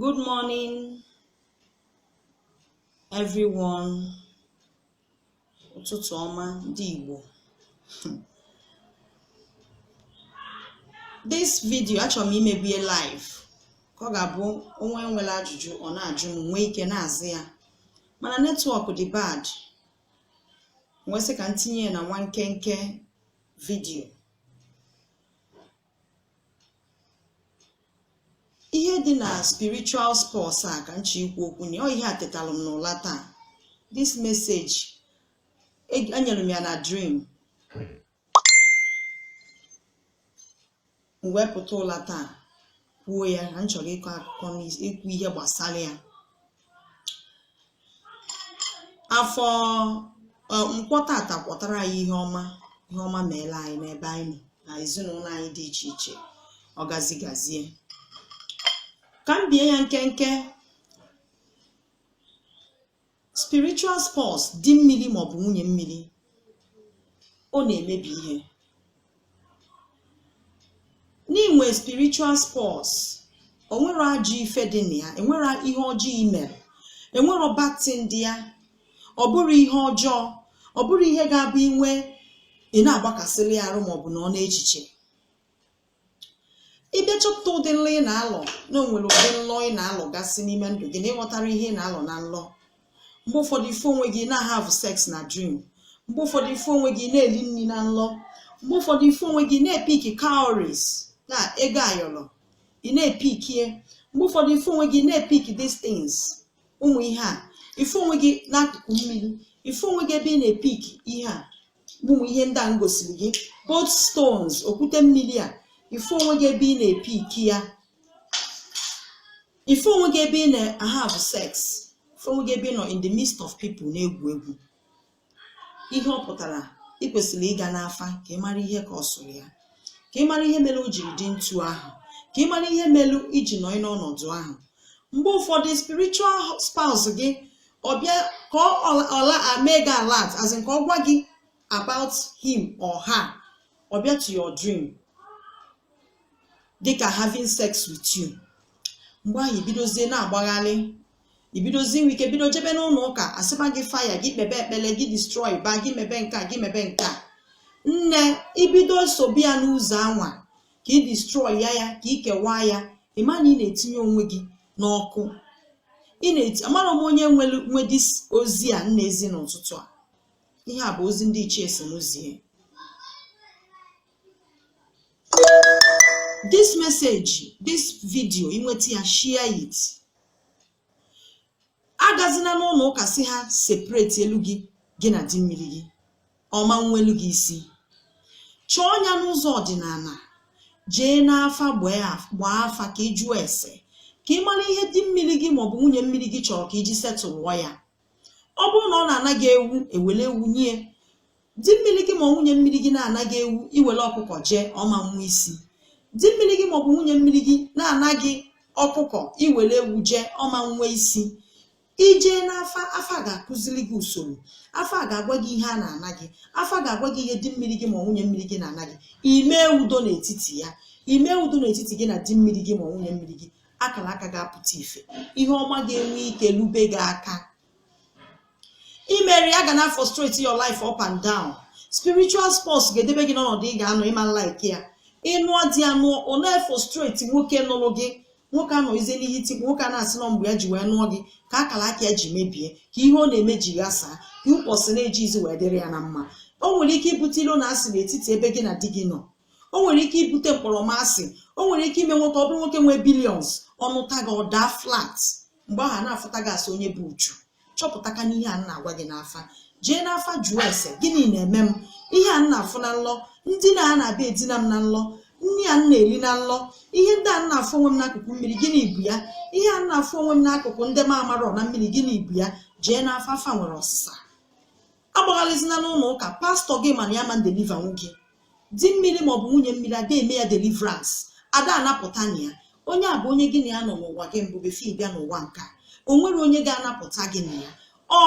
Good morning, everyone. Ụtụtụ ọma ndị Igbo. This video achọrọ m imebie live ka ọ ga-abụ onye nwere ajụjụ ọ na-ajụ m nwee ike na-aza ya mana netwọk dị bad m wee sị ka m tinye ya na nwa nkenke vidio ihe dị na spiritual spouse a ka m je ikwu okwu na ọ ihe a etetalụ m n'ụla taa this message e- enyere m ya na dream m wee pụta ụla taa kwuo ya na m chọrọ ịkọ akụkọ n'is- ikwu ihe gbasara ya afọ nkwọ tata kwọtara anyị ihe ọma ihe ọma meela anyị n'ebe anyị nọ na ezinụlọ anyị dị iche iche ọ gazi gazie ka m bie ya nkenke spiritual spouse di mmiri maọbụ nwunye mmiri ọ na-emebi ihe n'inwe spiritual spouse onwerọ ajọ ife dị na ya enwerọ ihe ọjọọ imere enwerọ bad thing dị ya ọ bụrọ ihe ọjọọ ọ bụrọ ihe ga-abụ inwe ị na-agbakasịrị ya arụ maọbụ nọọ n'echiche ịbịa chọpụta ụdị nlọ ị na-alọ na onwere ụdị nlọ ị na-alọgasị n'ime ndụ gị na ịghọtarọ ihe ị na-alọ na nlọ mgbe ụfọdụ ị fụ onwe gị na have sex na dream mgbe ụfọdụ ị fụ onwe gị na-eli nri na nlọ mgbe ụfọdụ ị fụ onwe gị na-epiki cowries na ego ayọrọ ị na-epikie mgbe ụfọdụ ị fụ onwe gị na-epiki these things ụmụ ihe a ị fụ onwe gị n'akụkụ mmiri ị fụ onwe gị ebe ị na-epiki ihe a ụmụ ihe ndị a m gosiri gị both stones okwute mmiri a ị fụ onwe gị ebe ị na-epiki ya ị fụ onwe gị ebe ị na-ahave sex ị fụ onwe gị ebe ị nọ in the midst of people na-egwu egwu ihe ọ pụtara ị kwesịrị ịga n'afa ka ị mara ihe kpasụrụ ya ka ị mara ihe mere o jiri dị etu ahụ ka ị mara ihe mere iji nọ n'ọnọdụ ahụ mgbe ụfọdụ spiritual spouse gị ọbịa ka ọ mee gị alert as in ka ọ gwa gị about him or her ọ bịa to your dream dịka having sex with you mgbe ahụ ibidozie na-agbagharị ibidozi inwe ike bido jebe n'ụlọ ụka asịba gị fire gị kpebe ekpele gị destroy ba gị mebe nke a gị mebe nke a nne ibido sobi ya n'ụzọ anwa ka ị destroy ya ya ka ị kewaa ya ịma na ị na-etinye onwe gị n'ọkụ ị na-eti amarọ m onye nwe this ozi a m na-ezi n'ụtụtụ a ihe a bụ ozi ndị ichie si m zie this message this video i nweta ya share it agazina n'ụlọ ụka sị ha separate elu gị gị na di mmiri gị ọ ma nweelu gị isi chọọ ya n'ụzọ ọdịnala jee n'afa gbaa afa ka ị jụọ ese ka ị mara ihe di mmiri gị maọbụ nwunye mmiri gị chọrọ ka i ji setụlụọ ya ọ bụrụ na ọ na-ana gị ewu e were ewu nye di mmiri gị ma ọ nwunye mmiri gị na-ana gị ewu i were ọkụkọ jee ọ ma nwe isi di mmiri gị maọbụ nwunye mmiri gị na-ana gị ọkụkọ i were ewu jee ọ ma nwe isi i jee n'afa afa ga-akụziri gị usoro afa ga-agwa gị ihe a na-ana gị afa ga-agwa gị ihe di mmiri gị ma ọ nwunye mmiri gị na-ana gị i mee udo n'etiti ya i mee udo n'etiti gị na di mmiri gị ma ọ nwunye mmiri gị akara aka ga-apụta ife ihe ọma ga-enwe ike lube gị aka i merọ ya ga na frustrate your life up and down spiritual spouse ga-edebe gị n'ọnọdụ ị ga-anọ ị ma like ya ị nụọ di ya nụọ ọ na-efrustrate nwoke nụrụ gị nwoke anọ ize n'ihe itikpu nwoke a na-asị na ọ mgbe ya ji wee nụọ gị ka akara aka ya ji mebie ka ihe ọ na-eme ji ghasaa ka ụbọchị na-ejizi wee dịrị ya na mma o nwere ike ibute ilo na asị n'etiti ebe gị na di gị nọ o nwere ike ibute mkpọrọmasị o nwere ike ime nwoke ọ bụrụ nwoke nwee billions ọ nụta gị ọ daa flat mgbe ahụ a na-afụta gị as onye bu uchu chọpụtakwa n'ihe a m na-agwa gị n'afa jee n'afa jụọ ese gịnị na-eme m ihe a m na-afụ na nlọ ndị na a na-abịa edina m na nlọ nri a m na-eri na nlọ ihe ndị a m na-afụ onwe m n'akụkụ mmiri gịnị bụ ya ihe a m na-afụ onwe m n'akụkụ ndị m amarọ na mmiri gịnị bụ ya jee n'afa afa nwere ọsịsa agbagharịzina n'ụlọ ụka pastọ gị ma na ya ma deliva nwu gị di mmiri maọbụ nwunye mmiri ada eme ya deliverance ada anapụta na ya onye a bụ onye gị na ya nọ n'ụwa gị mbụ before ị bịa n'ụwa nke a o nwerọ onye ga-anapụta gị na ya ọ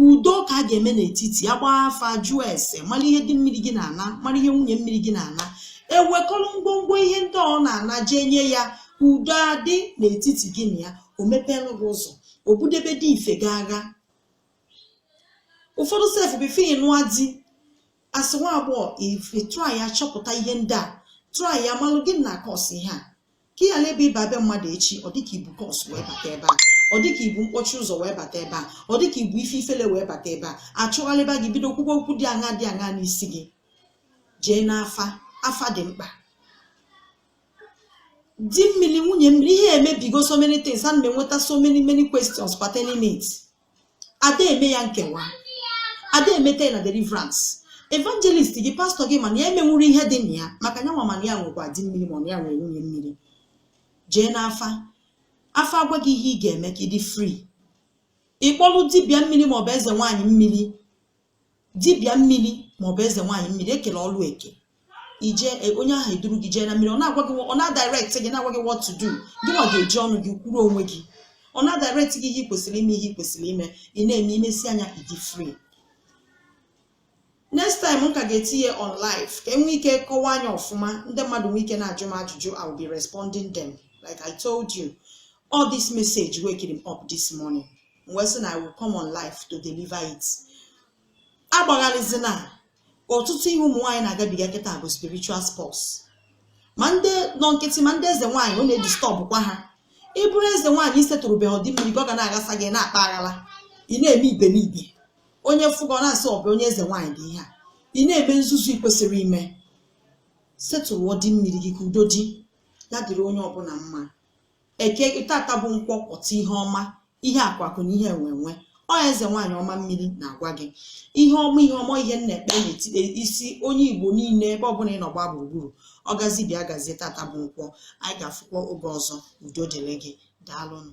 udo ka a ga-eme n'etiti ya gbaa afa jụọ ese mara ihe di mmiri gị na-ana mara ihe nwunye mmiri gị na-ana e wekọrọ ngwongwo ihe ndị ọ na-ana jee nye ya udo adị n'etiti gị na ya o mepeelụ gị ụzọ o budebe dị ife gị agha ụfọdụ sef before ị nụa di as nwa agbọghọ ife try ya chọpụta ihe ndị a try ya malụ gịnị na cause ihe a ka ị ghara ebe ịba be mmadụ echi ọ dịka i bu curse wee bata ebe a ọ dịka i bu mkpọchi ụzọ wee bata ebe a ọ dịka i bu ife ifele wee bata ebe a achụgharịba gị bido kwuba okwu dị aṅa dị aṅa n'isi gị jee n'afa afa dị mkpa di mmiri nwunye mmiri ihe emebigo so many things a na m enweta so many many questions pertaining it ada eme ya nkewa ada emeta ya na deliverance evangelist gị pastọ gị ma na ya emenwurọ ihe dị na ya maka ya nwa ma na ya nwekwa di mmiri ma na ya nwere nwunye mmiri jee n'afa afa agwa gị ihe ị ga-eme ka ị dị free ị kpọlụ dibịa mmiri maọbụ eze nwaanyị mmiri dibịa mmiri maọbụ eze nwaanyị mmiri ekele ọlụ eke ije e, onye ahụ eduru gị jee na mmiri ọ na-agwa gị ọ na-adirect gị na-agwa gị what to do gị nwa ga-eji ọnụ gị kwuru onwe gị ọ na-adirect gị ihe ị kwesịrị ime ihe ị kwesịrị ime ị na-eme imesịa nya ị dị free next time m ka ga-etinye on live ka enwee ike kọwaa nya ọfụma ndị mmadụ nwee ike na-ajụ m ajụjụ I will be responding them like I told you ọ this message wakerị m up this morning wee sị na I will come on live to deliver it agbagharịzina ọtụtụ ihe ụmụ nwaanyị na-agabiga kịta bụ spiritual spouse ma ndị nọ nkịtị ma ndị eze nwaanyị ọ na-edistọbụkwa ha ị bụrụ eze nwaanyị isetụrụbeghị ndị mmiri gị ọ ga na-aghasa gị na-akpa aghara ị na-eme iberibe onye fụ gị ọ na-asị ọ bụ onye eze nwaanyị dị ihe a ị na-eme nzuzu ị kwesịrị ime setụrụọ ndị mmiri gị ka udo dị ya dịrị onye ọbụla mma eke tata bụ nkwọ pụta ihe ọma ihe akụ akụ na ihe enwe enwe ọ eze nwaanyị ọma mmiri na-agwa gị ihe ọma ihe ọma ihe m na-ekpe n'etiti isi onye igbo niile ebe ọbụla ị nọ gbaa gburugburu ọ gazi bịa gazie tata bụ nkwọ anyị ga-afụkwa oge ọzọ udo dịrị gị daalụnụ